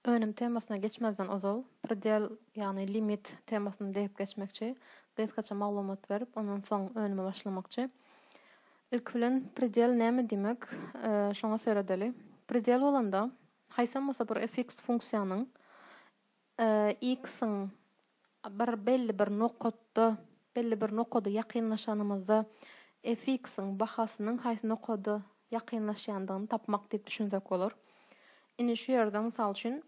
Önüm temasyna geçmezden ozal, predel, ýagny limit temasyny degip geçmekçi, gysgaça maglumat berip, ondan soň önüme başlamakçy. Ilki bilen predel näme diýmek, şoňa seredeli. Predel bolanda, haýsam bolsa bir fx funksiýanyň, X-iň bir belli bir nokatda, belli bir nokada ýakynlaşanymyzda Fx-iň bahasynyň haýsy nokada ýakynlaşýandygyny tapmak diýip düşünsek bolar. Indi şu ýerde, mysal üçin,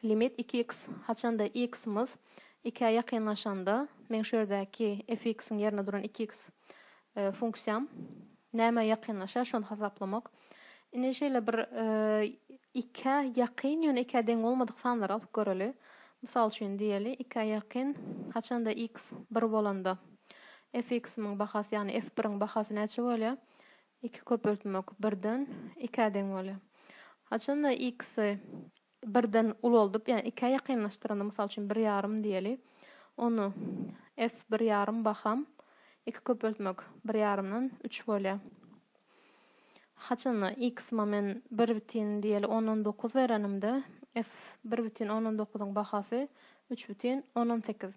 limit iki x haçanda x-imiz ikä ýakynlaşanda, meň şu ýerdäki Fx-iň ýerinde duran iki x funksiýam nämä ýakynlaşýar şony hasaplamak. Indi şeýle bir ikä ýakyn ýöne ikä deň bolmadyk sanlary alyp göreli. Mysal üçin diýeli ikä ýakyn haçanda x bir bolanda fx-imiň bahasy ýagny f biriň bahasy näçe bolýar? Iki köpeltmek birden ikä deň bolýar. Haçanda x-i birden ulaldyp, ýagny ikä ýakynlaşdyranda, mysal üçin, bir ýarym diýeli, ony F bir ýarym baham iki köpeltmek bir ýarymdan üç bolýar. Haçanda X momen bir bütin diýeli on on dokuz berenimde, F bir bütin on on dokuzyň bahasy üç bütin on on sekiz.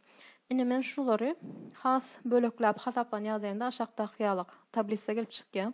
Indi men şulary has bölekläp hasaplan ýagdaýynda aşakdaky ýalak tablisa gelip çykýar.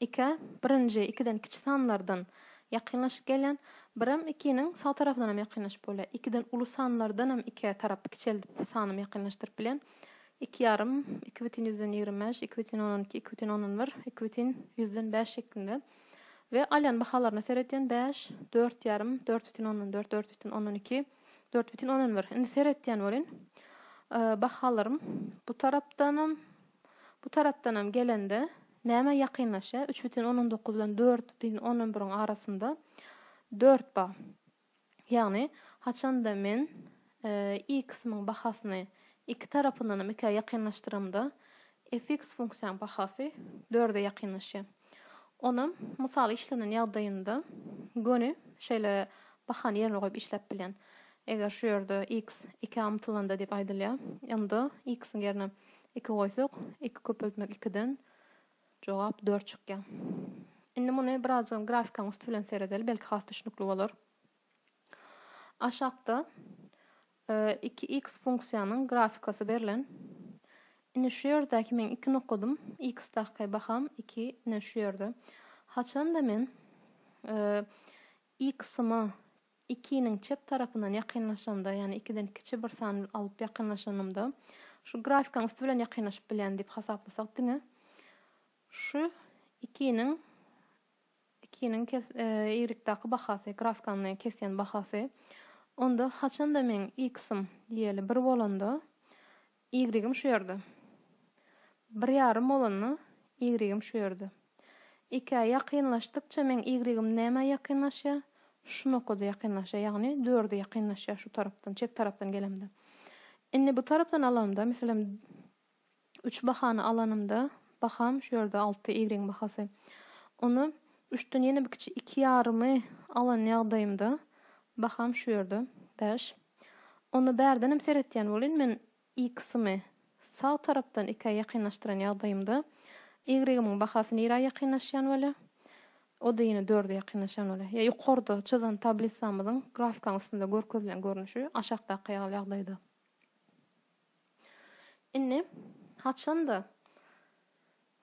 Ikä, birinji, ikiden kiçi sanlardan, ýakynlaşyk gelýän, birem ikiniň sag tarapyndanam ýakynlaşyp bolýar. Ikiden uly sanlardanam ikä tarap kiçeldip sanymy ýakynlaşdyryp bilýän. Iki ýarym, iki bütin ýüzden ýigrimi bäş, iki bütin ondan iki, iki bütin ondan bir, iki bütin ýüzden bäş şeklinde we alýan bahalaryna seredýän, bäş, dört ýarym, dört bütin ondan dört, dört bütin ondan iki, dört bütin ondan bir. Indi seredýän welin, bahalarym bu tarapdanam, Bu tarapdanam gelende, näme ýakynlaşýar? Üç bütin ondan dokuz bilen dört bütin ondan biriň arasynda dört bar. Ýagny, haçanda men x-yň bahasyny iki tarapyndanam ikä ýakynlaşdyramda, f(x) funksiýanyň bahasy dörde ýakynlaşýar. Onam mysal işlenen ýagdaýynda göni şeýle bahany ýerine goýup işläp bilýän. Eger şu ýerde x ikä ymtylanda diýip aýdylýar, onda x-iň ýerine iki goýsak, iki köpeltmek ikiden jogap dört çykýar. Indi muny birazajygam grafikaň üsti bilen seredeli, belki has düşnükli bolar. Aşakda Iki x funksiýanyň grafikasy berlen. Indi şu ýerdäki meň iki nokadym, x daky baham iki, ine şu ýerde. Haçanda men x-yma ikiniň çep tarapyndan ýakynlaşamda, ýagny ikiden kiçi bir san alyp ýakynlaşanymda, şu grafikaň üsti bilen ýakynlaşyp bilýän diýip hasaplasak diňe şu ikiniň Ikiniň kes ýrykdaky bahasy, grafkanyny kesýän bahasy. Onda haçanda meň iksym diýeli bir bolanda, ýrygym şu ýerde. Bir ýarym bolanda, ýrygym şu ýerde. Ikä ýakynlaşdykça meň ýrygym nämä ýakynlaşýar? Şu nokada ýakynlaşýar, ýagny dörde ýakynlaşýar şu tarapdan, çep tarapdan gelemde. Indi bu tarapdan alamda, meselem, Üç bahany alanymda, baham şu ýerde alty ýigriň bahasy. Onda üçden ýene bir kiçi iki ýarymy alan ýagdaýymda, baham şu ýerde bäş. Onda bärdenem seretýän bolyn, men x-ymy sag tarapdan ikä ýakynlaşdyran ýagdaýymda, ýigrigimiň bahasy nirä ýakynlaşýan bolýar? O-da ýene dörde ýakynlaşýan bolýar. Ýa ýokarda çyzan tablisamyzyň grafikaň üstünde görkezilen görnüşi, aşakdaky ýaly ýagdaýda. Indi haçanda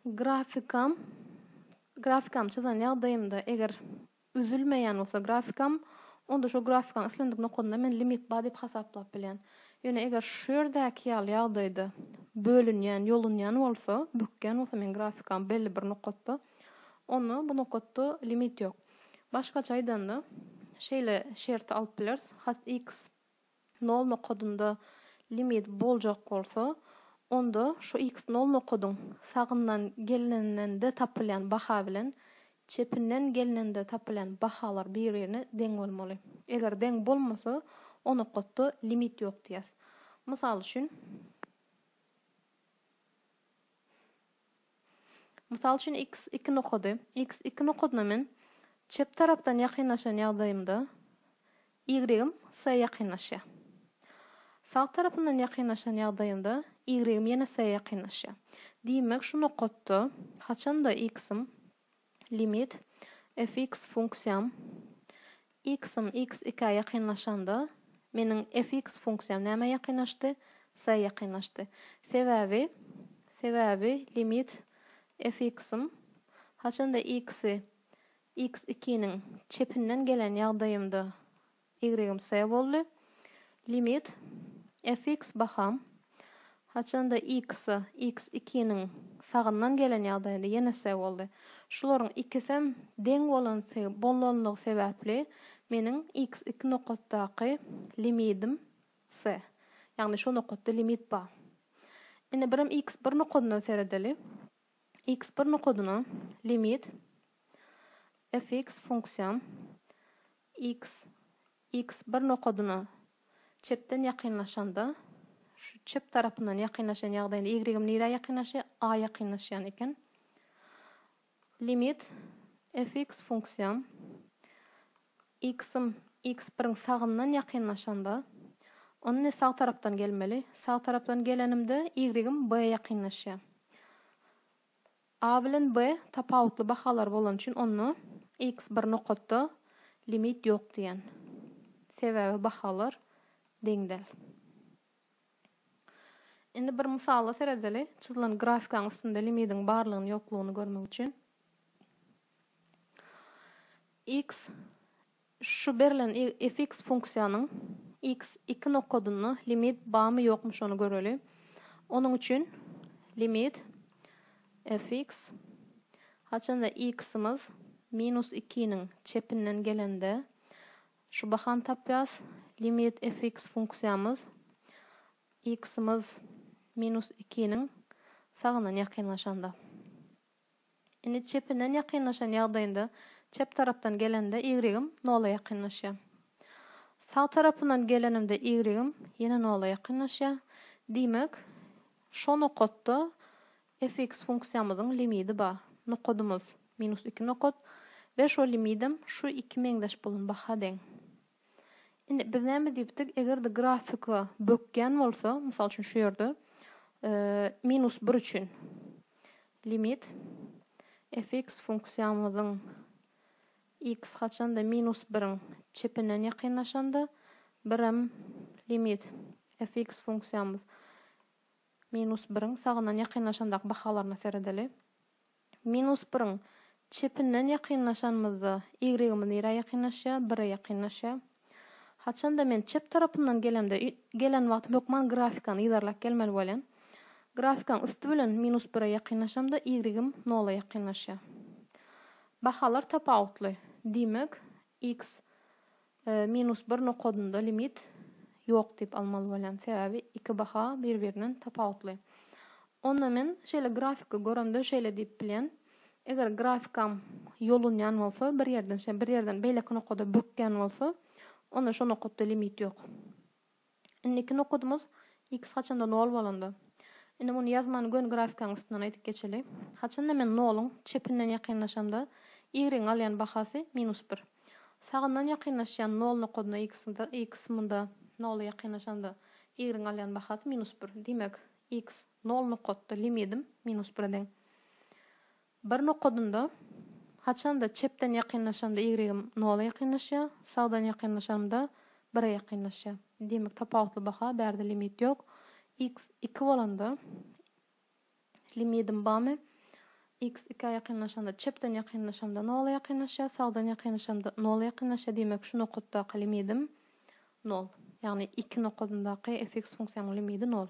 grafikam grafikamy çyzan ýagdaýymda eger üzülmeýän bolsa grafikam onda şo grafikaň islendik nokadynda men limit bar diýip hasaplap bilýän. Ýöne eger şu ýerdäki ýaly ýagdaýda bölünýän, ýolunýan bolsa, bükýän bolsa meň grafikam belli bir nokatda, onda bu nokatda limit ýok. Başgaça aýdanda şeýle şerti alyp bileris, hat x nol nokadynda limit boljak bolsa, onda şu x nol nokadyň sagyndan gelneninde tapylýan baha bilen çepinden gelneninde tapylýan bahalar bir-birine deň bolmaly. Eger deň bolmasa, o nokatda limit ýok diýýäs. Mysal üçin. Mysal üçin x iki nokady, x iki nokadyna men çep tarapdan ýakynlaşan ýagdaýymda y-im s-e ýakynlaşýar. Sag tarapyndan ýakynlaşan ýagdaýymda y-im ýene s-e ýakynlaşýar. Diýmek şu nokatda haçanda x-im Limit, fx funksiýam, x-im x ikä ýakynlaşanda, meniň fx funksiýam nämä ýakynlaşdy? S-e ýakynlaşdy. Sebäbi, sebäbi limit fx-im haçanda x-i x ikiniň çepinden gelen ýagdaýymda Ýigregim S boldy. Limit fx baham haçanda x-a x ikiniň sagyndan gelen ýagdaýynda ýene S boldy. Şularyň ikisem deň bolanty bolanlygy sebäpli meniň x iki nokatdaky limidim S. Ýagny şo nokatda limit bar. Indi birem x bir nokadyna seredeli. X bir nokadyna limit fx funksiýam X, X bir nokadyna çepden ýakynlaşanda, şu çep tarapyndan ýakynlaşan ýagdaýynda Y-im nirä ýakynlaşýar? A ýakynlaşýan eken. Limit fx funksiýam X-im X biriň sagyndan ýakynlaşanda, onda ne sag tarapdan gelmeli? Sag tarapdan gelenimde Y-im B ýakynlaşýar. A bilen B tapawutly bahalar bolany üçin onda X bir nokatda limit ýok diýen. Sebäbi bahalar deňdel. Indi bir mysala seredeli. Çyzylan grafikaň üstünde limidiň barlygyny ýoklugyny görmek üçin. X Şu berlen fx funksiýanyň x iki nokadynda limit barmy-ýokmy şony göreli. Onuň üçin limit fx haçanda x-imiz minus ikiniň çepinden gelende şu bahany tapýarys, limit fx funksiýamyz x-imiz minus ikiniň sagyndan ýakynlaşanda. Indi çepinden ýakynlaşan ýagdaýynda çep tarapdan gelenimde ýigrim nola ýakynlaşýar. Sag tarapyndan gelenimde ýigrim ýene nola ýakynlaşýar. Diýmek, şo nokatda fx funksiýamyzyň limidi bar. Nokadymyz, minus iki nokat we şo limidem şu iki meňzeş bolan baha deň. Indi biz näme diýipdik, eger-de grafika bökýän bolsa, mysal üçin şu ýerde, minus bir üçin limit fx funksiýamyzyň x haçanda minus biriň çepinden ýakynlaşanda, birem limit fx funksiýamyz minus biriň sagyndan ýakynlaşandaky bahalaryna seredeli. Minus biriň çepinden ýakynlaşanymyzda y-ymyz nirä ýakynlaşýar? Bire ýakynlaşýar. Haçan-da men çep tarapyndan gelemde, gelen wagtym hökman grafikany yzarlap gelmeli bolýan. Grafikaň üsti bilen minus bire ýakynlaşamda y-ym nola ýakynlaşýar. Bahalar tapawutly. Diýmek, x Minus bir nokadynda limit ýok diýip almaly bolýan, sebäbi iki baha bir-birinden tapawutly. Onda men şeýle grafiki göremde şeýle diýip bilýän, eger grafikam ýolunýan bolsa, bir ýerden şe bir ýerden beýleki nokada bökýän bolsa, onda şo nokatda limit ýok. Indiki nokudymyz x haçanda nol bolanda. Indi muny ýazman göni grafikaň üstünden aýdyp geçeli. Haçanda men noluň çepinden ýakynlaşamda y-yň alýan bahasy minus bir. Sagyndan ýakynlaşýan nol nokudyna x munda nola ýakynlaşamda y-yň alýan bahasy minus bir. Diýmek, x nol nokatda limidim minus bire deň. Bir nokadynda, Haçanda çepden ýakynlaşamda ýigrigim nola ýakynlaşýar, sagdan ýakynlaşanymda bire ýakynlaşýar. Diýmek tapawutly baha, bärde limit ýok. X iki bolanda, limidim bamy, X ikä ýakynlaşanda, çepden ýakynlaşamda nola ýakynlaşýar, sagdan ýakynlaşamda nola ýakynlaşýar, diýmek şu nokatdaky limidim nol. Ýagny iki nokadyndaky fx funksiýamyň limidi nol.